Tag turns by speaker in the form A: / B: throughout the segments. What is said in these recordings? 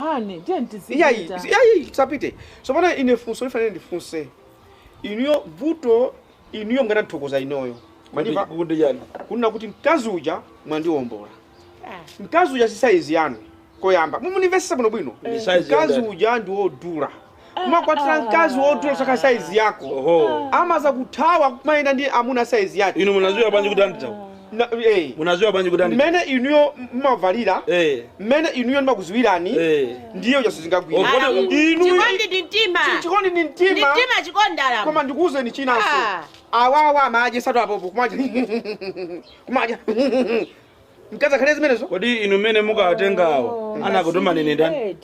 A: Honey, tiyeni Iyayi, tizipita. iyayi, tisapite. Tsopano ine funso lifana ine ndifunse. Inuyo vuto inuyo mukanathokoza inuyo. Mukundimva Kukuti chani? kunena kuti mkazi uja mwandiombola. Ah. Mkazi uja si size yanu. Koyamba, mumunimvesesa bwino bwino. Ndi size Mkazi yandani? uja ndi wodula. umakwatira mkazi wodula osakhala saizi yako Oho amazakuthawa kumayenda ndi amuna saizi yake Inu munaziwa bwanji kuti andithawa? Na- eh. Munaziwa bwanji kuti andithawa? mmene inuyo mmavalira Eh. mmene inuyo ndimakuziwirani Eh. ndiyo jaso zingagwira Ogoda- Alamu. inu Chikondi ndi mtima. chikondi ndi Ndi mtima mtima chikondi alamu. koma ndikuwuzeni chinanso Ah. awawa amaje satu apopo kumaja kumaja mkazi akhale zimenezo kodi inu mmene mukawatenga awo anakutumani ine ndani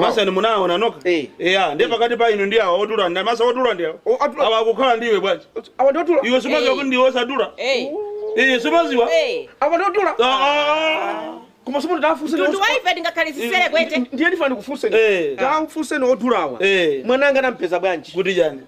A: masani munaona nokha eya ndiye pakati pa inu ndi awa odula ndi masa odula ndi awa awa akukhala ndiwe bwanji awa ndi odula iwe sumaziwa kuti ndiwe osadula iye sumaziwa awa ndi odula koma somo ndafunse Mtundu wa ife tingakhale zisere kwete. ndiye ndifana ndikufunseni Eh. ndafunseni odulawa mwana wanga anampeza bwanji kuti chani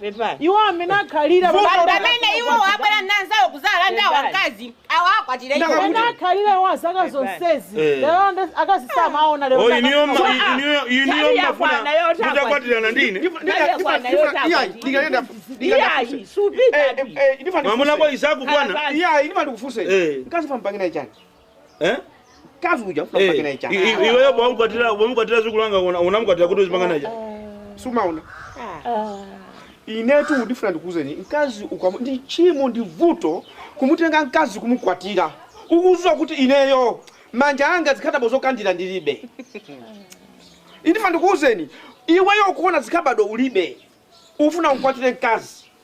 A: pepani iwo amene akhalira Vuto pamene- pamene iwo abwera nanzawo kuzalanda akazi awo akwatira iwo Ndakakuti- amene akhalira iwo azaka zonsezi Eh. lero nde akuti samaona lero Oh, inuyo ma- ndakakhala. Ah, inuyo- inuyo tani ya mafuna bwana yote hapa. mutakwatirana ndine iyayi supita mwamuna kwa isaku bwana iyayi ndimati ndikufunse Eh. mkazi pampangira chani Eh? Mkazi uja ufuna kupanga naye I- chani? i- Iweyo pomkwatira pomkwatira zikulanga una- unamkwatira kuti uzipanga naye. Sumaona. Inetu ndifuna ndikuuzeni mkazi ukamu ndi tchimo ndi vuto kumutenga mkazi kumukwatira. Ukuziwa kuti ineyo manja anga zikhadabo zokandira ndilibe. Ine ndifuna ndikuuzeni iweyo ukuona zikhadabo ulibe. Ufuna umkwatire mkazi.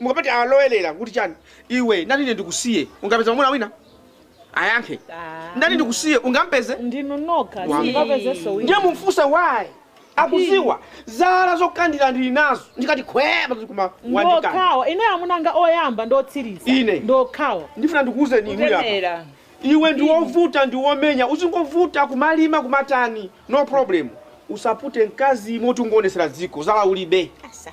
A: Mukapati alowelela kuti chani iwe ndati ine ndikusiye ungapeze mwamuna wina? Ayankhe ndati ndikusiye ungampeze? Ndinu nokha simungapezenso wina. Ndiye mumfunse why akuziwa zala zokandila ndili nazo ndikati khwee pazuli koma wandikana. Ndiokhawo ineyo amuna anga oyamba ndi otsiliza Ine. ndiokhawo. Ndifuna ndikuuzeni inuyo apa. Kutemera. Iwe ndi wovuta ndi womenya uzingovuta kumalima kumatani no problem. Usapute mkazi yemwe ungomuwonesera dziko zala ulibe. Asa.